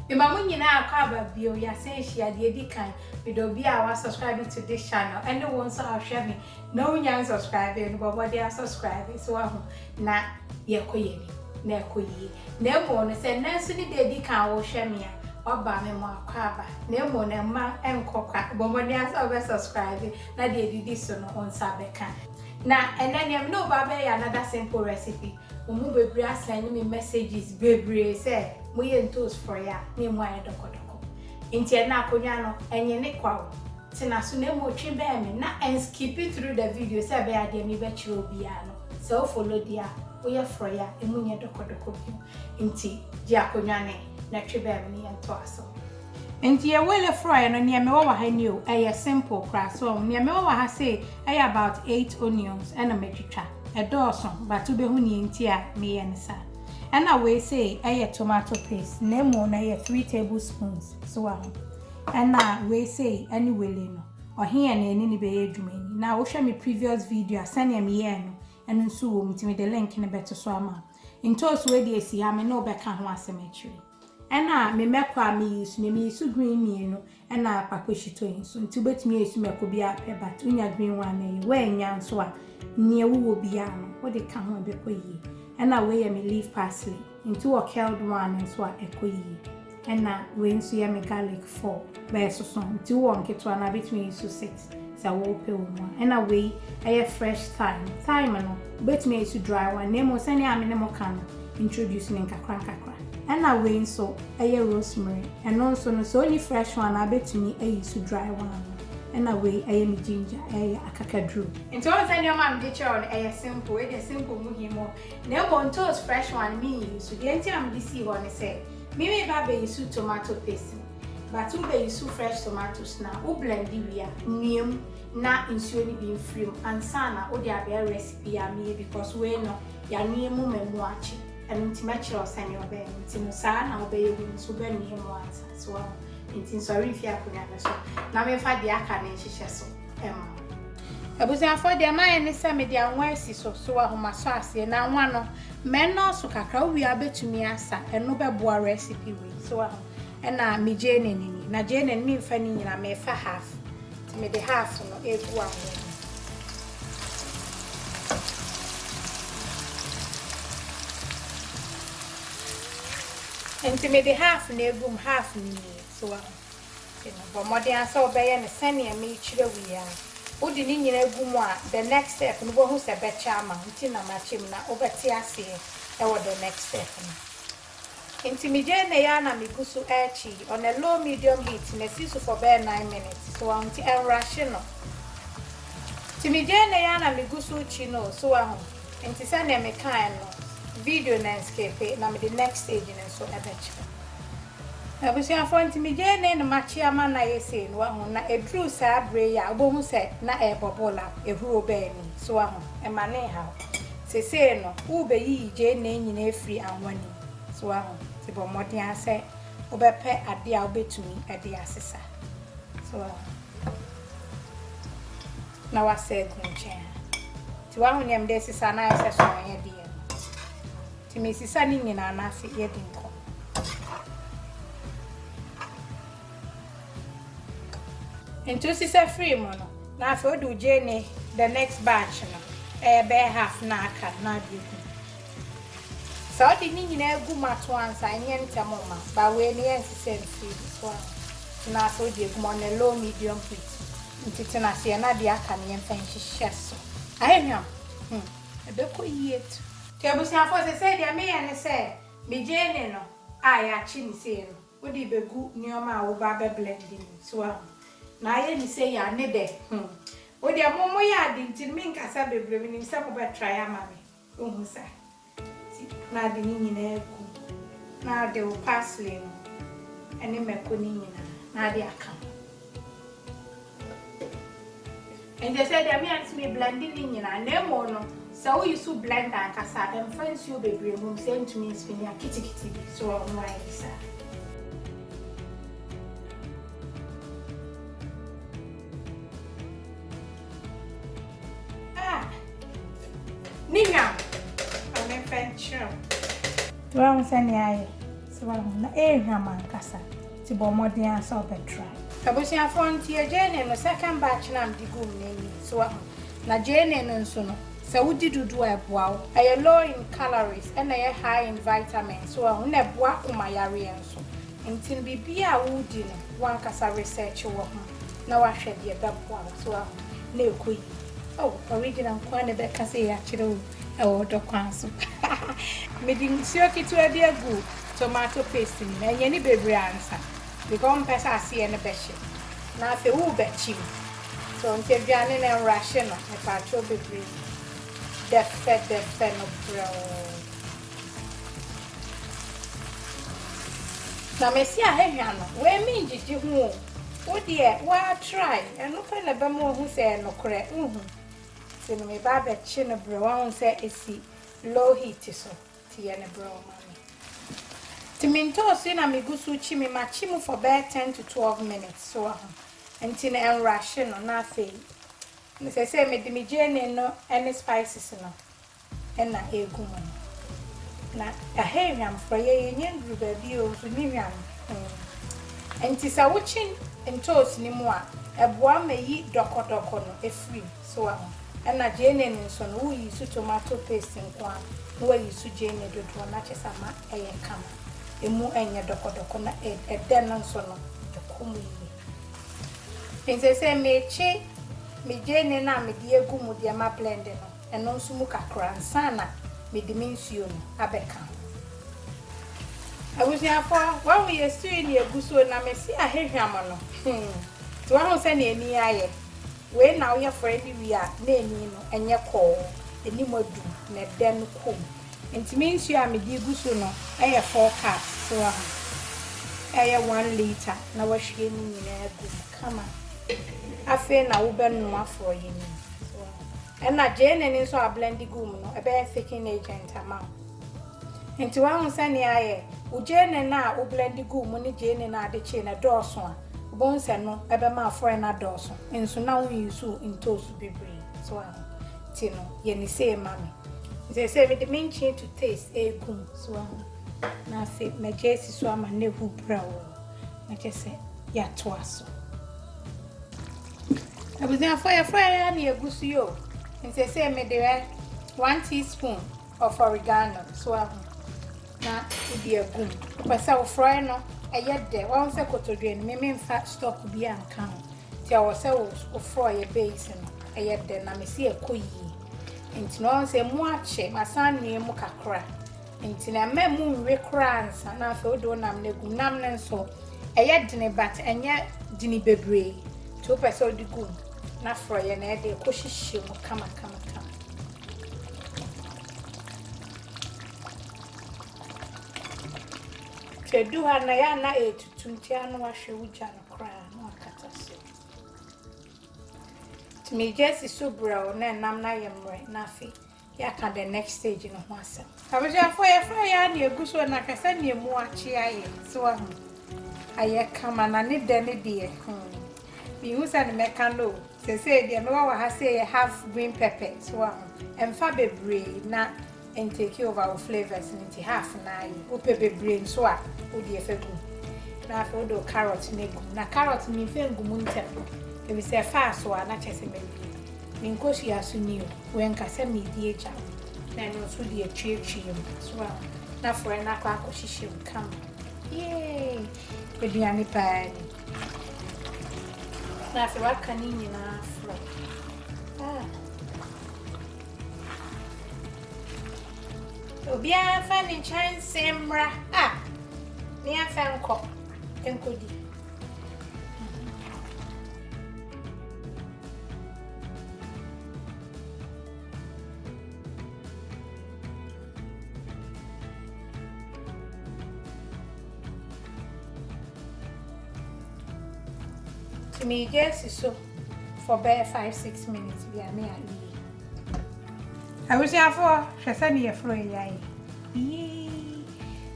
Mema mo nyinaa akɔ aba bio, yɛasan ahyia, deɛ ɛdi kan, meda obi a wa subscribe to this channel, ɛne wo nso a wohwɛ me na wonya nsubscribe no, bɔ mmɔden asubscribe, so wahu, na yɛkɔ yɛn anim, na ɛkɔ yie, na mmom no sɛ nnɛ nso ne da ɛdi kan a wohwɛ me a, waba me mo akɔ aba, na mmom no mma ɛnkɔ kwa, bɔ mmɔden asɛ wobɛ subscribe, na deɛ ɛdidi so no wo nsa bɛka. Na ɛnnɛ nea me ne wo ba bɛyɛ another simple recipe. Mo mu bebree asɛnde me messages bebree sɛ mo yɛ ntoos frɔeɛ a na ɛmu ayɛ dɔkɔdɔkɔ. Nti ɛnnɛ akonnwa no ɛnyene kwa o, tena so na mmom twe bɛn me na ɛnskipi through the video sɛ ɛbɛyɛ a deɛ merebɛkyerɛ wo biara no sɛ wo follow deɛ a, woyɛ frɔeɛ a ɛmu nyɛ dɔkɔdɔkɔ bio. Nti gye akonnwa no na twe bɛn me na yɛntoa so. Nti yɛ wele frɔɛ no neɛ mewɔ wɔ ha ni o ɛyɛ simple koraa so ɔho neɛ mewɔ wɔ ha sei ɛyɛ about eight onions ɛna matwitwa ɛdɔɔso but wobɛhu neɛ nti a meyɛ no saa ɛna wei sei ɛyɛ tomato paste na mmom no ɛyɛ three table spoons so wɔ ho ɛna wei sei ɛne wele no ɔhe yɛ na ɛne ne bɛyɛ adwuma ni na wohwɛ me previous video a sɛneɛ meyɛɛ no ɛno nso wɔ mu nti mede link no bɛto so ama ntoosi wei deɛ ɛsi ha me ne wobɛka ho asɛm akyiri Ɛna me mɛkɔ a me use me me use green mmienu ɛna kpakɔ shito yi nso nti wobɛtumi ayi so mɛkɔ bi a pɛ but wonya green one na ɛyɛ woannya nso a nea wowɔ biara no wode ka ho ɛbɛkɔ yie ɛna wei yɛ me leaf parsley nti wɔ curled one nso a ɛkɔ yie ɛna wei nso yɛ me garlic four bɛyɛ soso nti wowɔ nketewa no a bɛtumi ayi so six sɛ worepɛ wo mu a, ɛna wei ɛyɛ fresh thyme. Thyme no, wobɛtumi ayi so dry one, na mmom sɛnea me ne mo ka no, introduce no nkakra nkakra. Ɛna wei nso ɛyɛ rosemary, ɛno nso no, sɛ wonni fresh one a, wobɛtumi ayi so dry one no. Ɛna wei ɛyɛ me ginger, ɛyɛ akakaduro. Nti wohu sɛ nneɛma a mede kyerɛ wo no, ɛyɛ simple, wei deɛ simple mu him o, na mmom ntoosi fresh one menyi so. Deɛ nti a mede sii hɔ ne sɛ, me reba abɛyi so tomato paste no, But wo bɛ use fresh tomatoes na wo blendi wie a, nua mu na nsuo no bi mfiri mu ansa na wo de abɛyɛ recipe a meyɛ because wei no yɛanoa mu ma mu akye. Ɛno nti mɛkyerɛ wo sɛdeɛ wo bɛyɛ no nti no saa na wo bɛyɛ wei nso wo bɛnoa mu ansa so wahu. Nti nsɔre mfiri akonnwa no so na memfa deɛ aka no nhyehyɛ so mma wo. Abusuafoɔ deɛ mayɛ ne sɛ mede anwa asi so so wahu masɔ aseɛ na anwa no mɛnnɔɔso kakra wo wie a wobɛtumi asa ɛno bɛboa recipe wei so wahu. Ɛna me gyeene no ni. Na gyeene no memfa ne nyinaa, mefa half. Nti mede half no egu anwa mu. Nti mede half no egu mu, half no ni. So wahu? Nti no, bɔ mmɔden ara sɛ wobɛyɛ no sɛnea mekyerɛ wo yi ara. Wode ne nyinaa gu mu a, the next step no, wobɛhu sɛ ɛbɛkyɛ ama wo. Nti na makyɛ mu na wobɛte aseɛ wɔ the next step no. Nti me gyee nɛɛ aa na me gu so aakyi on a low medium heat na asi so for bɛɛ nine minutes so wahu nti ɛnrushe no nti me gyee nɛɛ aa na me gu so kyi no so wahu nti sɛdeɛ me kaaɛ no video no ɛnskipe na mede next stage no nso ɛbɛkyerɛ abusuafoɔ nti me gyee nɛɛ na makye ama no ayɛ sei no wahu na ɛduruu saa berɛ yi a wobɛhu sɛ na ɛɛbɔbol a ɛhuro bɛɛ ni so wahu ɛmanee haw. Sesei no, worebeyiyi gyei nna nyina efiri anwonne mu. So woahu? Nti bɔ mmɔden ara sɛ wobɛpɛ ade a wubetumi de asesa. So woahu? Na woasɛ agu nkyɛn ha. Nti woahu nea mede resesa no ayɛ sɛ sumanyɛdeɛ no? Nti mesesa ne nyinaa na afei yɛadi nkɔmmɔ. Nti wo sisa firi mu no na afei wode wo gye ne the next batch no ɛyɛ bɛyɛ half na aka no na ade egu. Sɛ wode ne nyinaa egu mu ato ansa ɛnyɛ ntɛm ma ba wei no yɛ nsisa mfiri mu so ano. Nti na afei wode egu mu on a low medium heat. Nti tena aseɛ na deɛ aka no yɛmfa nhyehyɛ so. Ayɛ hwam? Hmm, ɛbɛkɔ yie tu. Nti abusuafoɔ sesei deɛ meyɛ ne sɛ me gyeene no a yɛakye ne sei no Wode bɛgu nnoɔma a woba abɛ blend no mu so ahu. Na ayɛ ne sei a ne dɛ hmm. Wodeɛ mo mo yɛ ade nti no me nkasa bebree me nim sɛ mo bɛ try ama me wohu sa nti na ade ne nyinaa gu mu na ade wo parsley no ɛne mako no nyinaa na ade aka ho. Nkyɛ sɛ deɛ me antumi blende ne nyinaa na mmom no sɛ wo use blender ankasa a ɛmfa nsuo bebree mmom sɛ ntumi nspinni a kitikiti bi so wɔ ho ayɛ saa. Ah, ne nwa a mepɛ nkyerɛ. Wɔn sɛ ne ayɛ sɛ wɔn na ɛrehwam ankasa. Nti bɔ mmɔden ara sɛ wobɛtra. Abusuafoɔ nti yɛ gyeene no second batch no a mede guu mo no ani so wahu. Na gyeene no nso no sɛ wodi dodoɔ a ɛboa wo. Ɛyɛ low in calories ɛna ɛyɛ high in vitamins so wahu. Ɛna ɛboa akoma yareɛ nso. Nti no biribiara a woredi no wankasa research wɔ ho na wahwɛ deɛ ɛbɛboa wo so wahu na ɛkɔ yie. Oh, original nkoaa na ɛbɛka sei akyerɛ wo. Ɛwɔ dɔ kwan so paa. Mede nsuo ketewa bi agu tomato paste no mu. Ɛnyɛ no bebree ansa because wompɛ sɛ aseɛ no bɛhye na afei worebɛkyim. So nti aduane no ɛnrushe no mepakyɛw bebree. Dɛfɛdɛfɛ no brɛoo. Na mese ahahwa no wei mengyegye ho o. Wodeɛ woatry ɛno pɛ na ɛbɛma wahu sɛ ɛyɛ nokorɛ wohu. Nti no meba abɛkye no brɛo wahu sɛ ɛsi low heat so nti yɛ no brɛo ma me nti me ntoosi yi na megu so kyi me ma kyi mu for bɛyɛ ten to twelve minutes so wahu nti no ɛnrahye no na afei sɛsɛ mede me gyeene no ne spices no na ɛregu mu no. Na ɛha yɛ hwam forɔeɛ, yɛnnya nnuru baabi o, nso ne hwam mm. Nti sɛ wokye ntoosi no mu a, ɛboa ma ɛyi dɔkɔdɔkɔ no firi mu, so wahu. Ɛna gyeene no nso no, woyi so tomato paste nko ara na woayi so gyeene dodoɔ no akyɛ sɛ ama ɛyɛ kama. Ɛmu nyɛ dɔkɔdɔkɔ na ɛdɛ no nso no, ɛkɔ mu yie. Nti sɛ merekye me gyeene no a mede agu mu deɛ ma blende no, ɛno nso mu kakra ansa na mede me nsuo no abɛka ho. Abusuafoɔ, wahu yɛ stew yi na yɛgu so na mese ahwehwam no, hmm, nti wahu sɛdeɛ ani ayɛ. Wei na woyɛ frɛ de wie a na ani no ɛnyɛ kɔɔ, anim adu na ɛdɛ no kɔm. Nti me nsuo a mede gu so no yɛ four cups, so wahu, ɛyɛ one litre na wahwie ne nyinaa agu mu. kama. Afei na wobɛnoa forɔeɛ no mu. Ɛna gyeene no nso a blend gu mu no, ɛbɛyɛ thickening agent ama wo. Nti wahu sɛnea ayɛ, wo gyeene no a wo blend gu mu ne gyeene no a ade kyee no ɛdɔɔso a, wobɛhu sɛ ɛno ɛbɛma forɔeɛ no adɔɔso. Nso na wo use ntoosi bebree. So wahu? Nti no yɛ ne sei ma me. Seesei mede me nkyen to taste ɛregu mu. So wahu? Na afei magya asi so ama no ahu brɛoo. na kyɛ sɛ yɛatoa so. Abusuafoɔ yɛfrɛ yɛ ara na yɛgu so yɛ o. Nti sɛ mede ɛ one teaspoon of oregano so ahu na wode agu mu. Wopɛ sɛ wofrɔɛ no ɛyɛ dɛ wɔn sɛ kotodwe no meme mfa stock bi anka ho nti ɛwɔ sɛ wofrɔ yɛ base no ɛyɛ dɛ na mesi ɛkɔ yie nti na wɔn sɛ mu akyɛ masan nua mu kakra. Nti na mma emu nwe koraa ansa na afei wode wo nam no agu mu. Nam no nso, ɛyɛ dene but ɛnyɛ dene bebree. Nti wopɛ sɛ wode gu mu na forɔeɛ na ɛde kɔhyehyɛ mu kamakamakama. Nti ɛdu ha na yɛ ana ɛretutu nti a na wahwɛ wo gya no koraa na wakata so. Nti megya si so brɛw na ɛnam no ayɛ mmerɛ na afei Yɛaka the next stage no ho asɛm. Abusuafoɔ yɛfaa yɛn anne agu so na hwɛ sɛdeɛ emu akye ayɛ. So wahu? Ayɛ kama na ne dɛ no deɛ hmm menhu sɛdeɛ mɛka no o. Seesei deɛ mewɔ wɔ ha sei yɛ half green pɛpɛ. So wahu? Mfa bebree na ɛntake over wo flavours no nti half no ara ye. Wopɛ bebree nso a wodeɛ fa gu mu. Na afei wode wo carrot no agu mu. Na carrot no memfa ngu mu ntɛm efisɛ ɛfaa so a na kyerɛ sɛ mawie. Me nkosua so ni o, wɛnka sɛ medi agya o, na ɛno nso deɛ tweetwee mu, so wahu, na frɛ no akɔ akɔhyehyɛ mu kama. Yee! Aduane paa ni. Na afei waka ne nyinaa frɛ. Ah. Obiara mfa ne nkyɛnse mmra. Ah. Ne yɛmfa nkɔ. Nkɔdi. To me guess is so for bare five six minutes bi a me a yi. Abusuafoɔ hwɛ sɛ ne yɛforo ɛya yi. Yii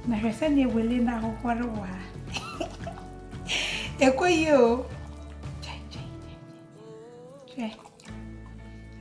na hwɛ sɛ ne wele na ahohɔre wɔ ha. Ɛkɔ yi o. Kyɛn kyɛn. Hwɛ,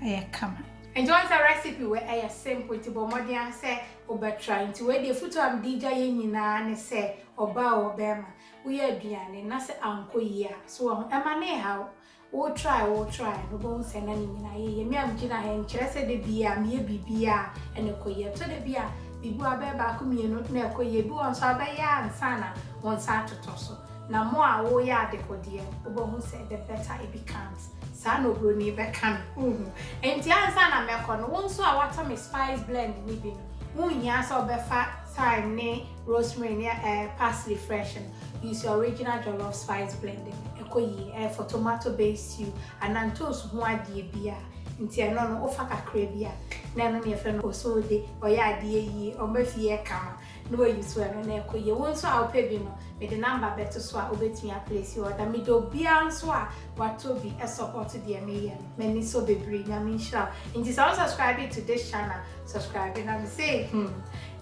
ɛyɛ kama. Ɛnjɔn sɛ recipe wei ɛyɛ simple nti bɔ mmɔden ara sɛ wobɛtra nti wei deɛ futuo a mede gya yɛ nyinaa ne sɛ ɔbaa o bɛɛma woyɛ aduane na sɛ ankɔ yie a so wɔ ho ɛma ne ha wo wo try wo try no bɔ ho sɛ na ne nyinaa yɛ yɛ me a megyina ha nkyerɛ sɛ da bi a meyɛ biribi a ɛna ɛkɔ yie ɛtɔ da bi a biribi wɔ abɛyɛ baako mmienu na ɛkɔ yie bi wɔ nso abɛyɛ a nsa na wɔn nsa atotɔ so. Na mo a wo yɛ adekodeɛ wo bɛ hu sɛ the better it becomes saa na obroni bɛ ka no wo hu nti ansa na mɛ kɔ no wo nso a watɔ me spice blend no bi no wo nhia sɛ wo bɛ fa thyme ne rosemary ne ɛɛ parsley fresh no use your original jollof spice blend no ɛkɔ yie ɛɛ for tomato based stew anaa ntoosu ho adeɛ biaa nti ɛno no wo fa kakra bi a na ɛno ne yɛfrɛ no osode ɔyɛ adeɛ yie ɔma fie yɛ kama. na wayi so ɛno na ɛkɔ yie. Wo nso a wopɛ bi no, mede number bɛto so a wobɛtumi a place order. Mede obiara nso a watɔ bi support deɛ meyɛ no. M'ani sɔ bebree. Nyame nhyira wo. Nti sɛ wo subscribe to this channel, subscribe na me say hmm,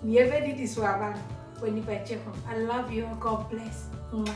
nea ɛbɛdidi so aba no, w'ani bɛgye ho. I love you all. God bless. Mwah.